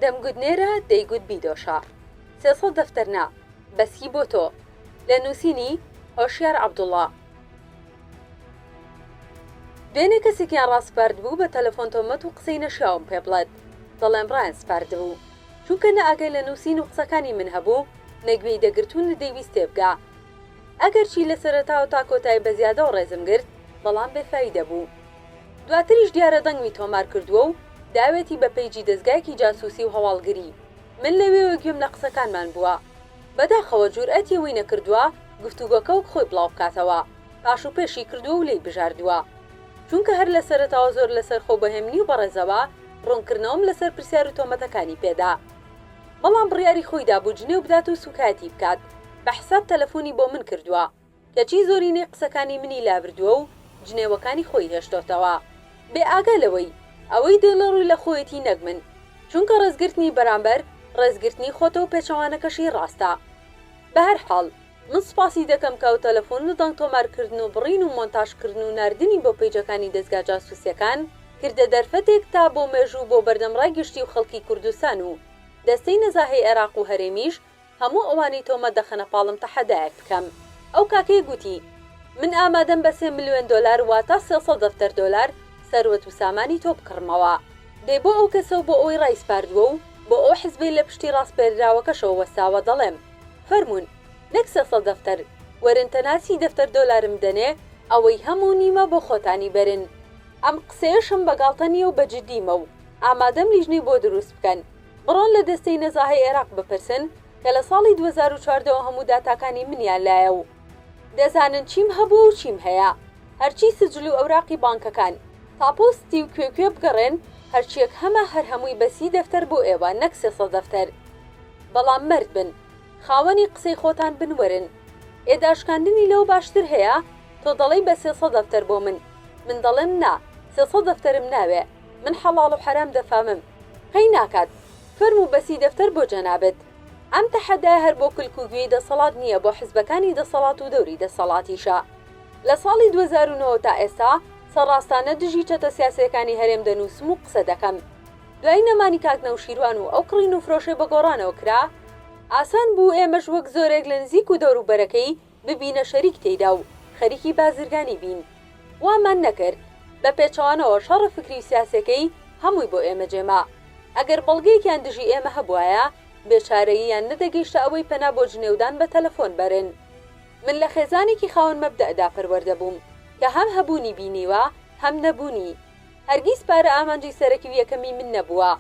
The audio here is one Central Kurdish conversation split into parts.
دەمگوت نێرە دەیگوت بیدۆشە سێ سەد دەفتەر نا بەس هی بۆ تۆ لە نووسینی، هۆشیار عەبدوڵا. دوێنێ کەسێکیان ڕاسپاردبوو بە تەلەفۆن تۆمەت و قسەی نەشیاوم پێ بڵێت دەڵێم ڕایان سپاردبوو چونکە نە ئاگای لە نووسین و قسەکانی من هەبوو نە گوێی دەگرت و نەدەیویست تێبگا ئەگەرچی لە سەرەتاوە تا کۆتایی بە زیادەوە ڕێزم گرت بەڵام بێ فایدە بوو دواتریش دیارە دەنگمی تۆمار کردووە و داوێتی بە پەیجی دەزگایەکی جاسووسی و هەواڵگری. من لەوێوە گوێم لە قسەکانمان بووە. بەداخەوە جورئەتی ئەوەی نەکردووە گفتوگۆکە وەک خۆی بڵاو بکاتەوە، پاش و پێشی کردووە و لێی بژاردووە. چونکە هەر لە سەرەتاوە زۆر لەسەرخۆ و بە هێمنی و بەڕێزەوە ڕوونکردنەوەم لەسەر پرسیار و تۆمەتەکانی پێ دا. بەڵام بڕیاری خۆی دابوو جنێو بدات و سووکایەتی بکات. بە حساب تەلەفۆنی بۆ من کردووە. کەچی زۆرینەی قسەکانی منی لابردووە و جنێوەکانی خۆی هێشتۆتەوە. بێ ئاگا لەوەی ئەوەی دێڵێ ڕووی لە خۆیەتی نەک من. چونکە ڕێزگرتنی بەرامبەر، ڕێزگرتنی خۆتە و پێچەوانەکەشی ڕاستە. بە هەر حاڵ، من سوپاسی دەکەم کە ئەو تەلەفۆن و دەنگ تۆمار کردن و بڕین و مۆنتاژ کردن و ناردنی بۆ پەیجەکانی دەزگا جاسووسیەکان کردە دەرفەتێک تا بۆ مێژوو و بۆ بەردەم ڕای گشتی و خەڵکی کوردستان و دەستەی نەزاهەی عێراق و هەرێمیش هەموو ئەوانەی تۆمەت دەخەنە پاڵم تەحەدایەک بکەم. ئەو کاکەیە گوتی، من ئامادەم بە سێ ملیۆن دۆلار واتە سێ سەد دەفتەر دۆلار سەروەت و سامانی تۆ بکڕمەوە. دەی بۆ ئەو کەسە و بۆ ئەوەی ڕایسپاردووە و بۆ ئەو حزبەی لە پشتی ڕاسپێردراوەکەشەوە وەستاوە دەڵێم، فەرموون، نەک سێ سەد دەفتەر، وەرن تەنها سی دەفتەر دۆلارم بدەنێ، ئەوەی هەم و نیمە بۆ خۆتانی بەرن. ئەم قسەیەشم بە گاڵتە نییە و بە جددیمە و ئامادەم لیژنەی بۆ دروست بکەن. بڕۆن لە دەستەی نەزاهەی عێراق بپرسن کە لە ساڵی دوو هەزار و چواردە وە هەموو داتاکانی منیان لایە و دەزانن چیم هەبووە و چیم هەیە هەرچی سجل و ئەوراقی بانکەکان تاپۆ ستی و کوێ کوێ بگەڕێن هەرچیەک هەمە هەر هەمووی بە سی دەفتەر بۆ ئێوە نەک سێ سەد دەفتەر بەڵام مەرد بن خاوەنی قسەی خۆتان بن وەرن ئێ داشکاندنی لەوە باشتر هەیە تۆ دەڵێی بە سێ سەد دەفتەر بۆ من من دەڵێم نا سێ سەد دەفتەرم ناوێ من حەڵاڵ و حەرام دەفامم قەی ناکات فەرموو بەسی دەفتەر بۆ جەنابت ئەم تەحەدایە هەر بۆ کلک و گوێی دەسەڵات نییە بۆ حزبەکانی دەسەڵات و دەوری دەسەڵاتیشە لە ساڵی دوو هەزار و نۆ تا ئێستا سەڕاستانە دژی چەتە سیاسیەکانی هەرێم دەنووسم و قسە دەکەم دوای نەمانی کاک نەوشیروان و ئەو کڕین و فرۆشەی بە گۆڕانەوە کرا ئاسان بوو ئێمەش وەک زۆرێک لە نزیک و دەوروبەرەکەی ببینە شەریک تێیدا و خەریکی بازرگانی بین. وامان نەکرد. بە پێچەوانەوە شەڕە فکری و سیاسیەکەی هەمووی بۆ ئێمە جێما. ئەگەر بەڵگەیەکیان دژی ئێمە هەبوایە، بێچارەییان نەدەگەیشتە ئەوەی پەنا بۆ جنێودان بە تەلەفۆن بەرن. من لە خێزانێکی خاوەن مەبدەئدا پەروەردە بووم کە هەم هەبوونی بینیوە هەم نەبوونی. هەرگیز پارە ئامانجی سەرەکی و یەکەمی من نەبووە.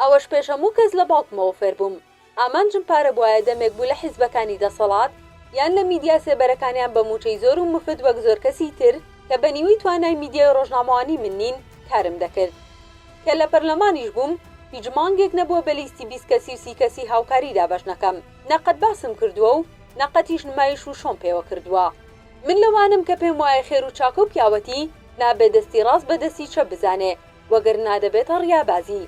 ئەوەش پێش هەموو کەس لە باوکمەوە فێربووم. ئامانجم پارە بوایە دەمێک بوو لە حیزبەکانی دەسەڵات یان لە میدیا سێبەرەکانیان بە مووچەی زۆر و مفت وەک زۆر کەسی تر کە بە نیوەی توانای میدیای ڕۆژنامەوانی من نین کارم دەکرد کە لە پەرلەمانیش بووم هیچ مانگێک نەبووە بە لیستی بیست کەسی و سی کەسی هاوکاری دابەش نەکەم نە قەت باسم کردووە و نە قەتیش نمایش و شۆم پێوە کردووە من لەوانم کە پێم وایە خێر و چاکە و پیاوەتی نابێ دەستی ڕاست بە دەستی چەپ بزانێ وەگەرنا دەبێتە ڕیابازی.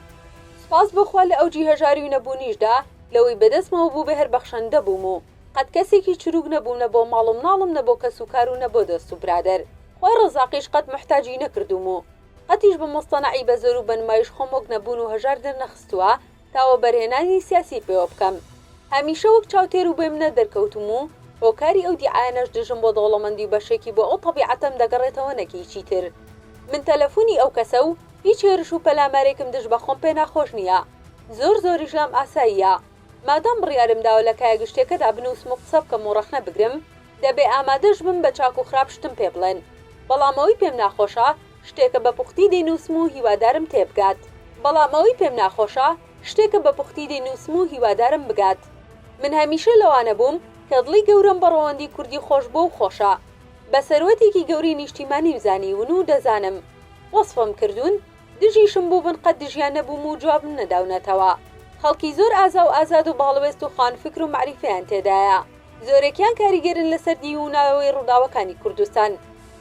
سوپاس بۆ خوا لە ئەوجی هەژاری و نەبوونیشدا لەوەی بەدەستمەوە بوو بهر بەخشەندە بووم و قەت کەسێکی چرووک نەبووم نە بۆ ماڵ و مناڵم نە بۆ کەس و کار و نە بۆ دۆست و برادەر خوای ڕەزاقیش قەت موحتاجی نەکردووم و قەتیش بە موستەنەعی بە زۆر و بە نمایش خۆم وەک نەبوون و هەژار دەرنەخستووە تا وەبەرهێنانی سیاسی پێوە بکەم. هەمیشە وەک چاوتێر و بێ منەت دەرکەوتووم و هۆکاری ئەو دیعایانەش دژم بۆ دەوڵەمەندی و بەشێکی بۆ ئەو تەبیعەتەم دەگەڕێتەوە نەک هیچی تر. من تەلەفوونی ئەو کەسە و هیچ هێرش و پەلامارێکم دژ بە خۆم پێ ناخۆش نییە. زۆر زۆریش لام ئاساییە. مادام بڕیارم داوە لە کایە گشتییەکەدا بنووسم و قسە بکەم و ڕەخنە بگرم، دەبێ ئامادەش بم بە چاک و خراپ شتم پێ بڵێن. بەڵام ئەوەی پێم ناخۆشە، شتێکە بە پوختی دەینووسم و هیوادارم تێبگات. بەڵام ئەوەی پێم ناخۆشە، شتێکە بە پوختی دەینووسم و هیوادارم بگات. من هەمیشە لەوانە بووم کە دڵی گەورەم بە ڕەوەندی کوردی خۆش بووە و خۆشە. بە سەروەتێکی گەورەی نیشتیمانیم زانیون و دەزانم. وەسفم کردوون، دژیشم بووبن قەت دژیان نەبووم و جوابم نەداونەتەوە. خەڵکی زۆر ئازا و ئازاد و باڵوێست و خاوەن فکر و مەعریفەیان تێدایە. زۆرێکیان کاریگەرن لەسەر دیووناوەوەی ڕووداوەکانی کوردستان.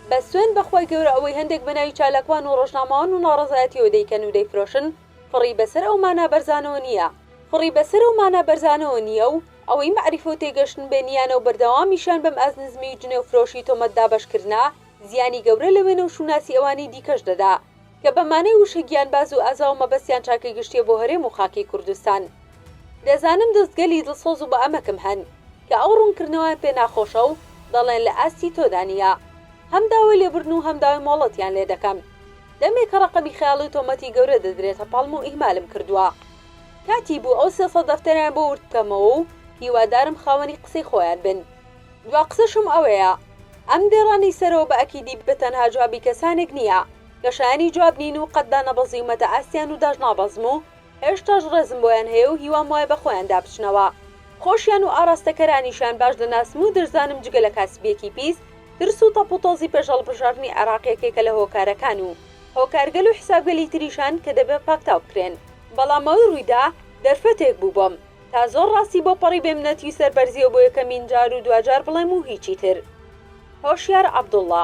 بەس سوێند بەخوای گەورە ئەوەی هەندێک بەناوی چالاکوان و ڕۆژنامەوان و ناڕەزایەتیەوە دەیکەن و دەیفرۆشن فڕی بەسەر ئەو مانا بەرزانەوە نیە فڕی بەسەر ئەو مانا بەرزانەوە نیە و ئەوەی مەعریفە و تێگەشتن بێ نیانە و بەردەوامیشیان بەم ئەز نزمی و جنێو فرۆشی تۆمەت دابەشکردنە زیانی گەورە لە وێنە و شوناسی ئەوانی دیکەش دەدا کە بە مانای وشە گیانباز و ئازا و مەبەستیان چاکەی گشتییە بۆ هەرێم و خاکی کوردستان. دەزانم دەست گەلی دڵسۆز و بە ئەمەکم هەن، کە ئەو ڕوونکردنەوەیان پێ ناخۆشە و دەڵێن لە ئاستی تۆدا نییە. هەم داوای لێبوردن و هەم داوای مۆڵەتیان لێ دەکەم. دەمێکە ڕەقەمی خەیاڵی و تۆمەتی گەورە دەدرێتە پاڵم و ئیهمالم کردووە. کاتی بوو ئەو سێ سەد دەفتەریان بۆ ورد بکەمەوە و هیوادارم خاوەنی قسەی خۆیان بن. دوا قسەشم ئەوەیە ئەم دێڕانەی سەرەوە بە ئەکیدی بە تەنها جوابی کەسانێک نییە کە شایەنی جواب نین و قەت دانەبەزیومەتە ئاستیان و داژنابەزم و هێشتاش ڕێزم بۆیان هەیە و هیوام وایە بە خۆیاندا بچنەوە خۆشیان و ئاراستەکەرانیشیان باش دەناسم و دەشزانم جگە لە کاسبیەکی پیس ترس و تەپ و تۆزی پێش هەڵبژاردنی عێراق یەکێکە لە هۆکارەکان و هۆکارگەل و حسابگەلی تریشان کە دەبێ پاکتاو بکرێن. بەڵام ئەوەی ڕوویدا دەرفەتێک بوو بۆم تا زۆر ڕاستی بۆ پەڕی بێم نەتوی سەر بەرزیەوە بۆ یەکەمین جار و دواجار بڵێم و هیچی تر. هۆشیار عەبدوڵا.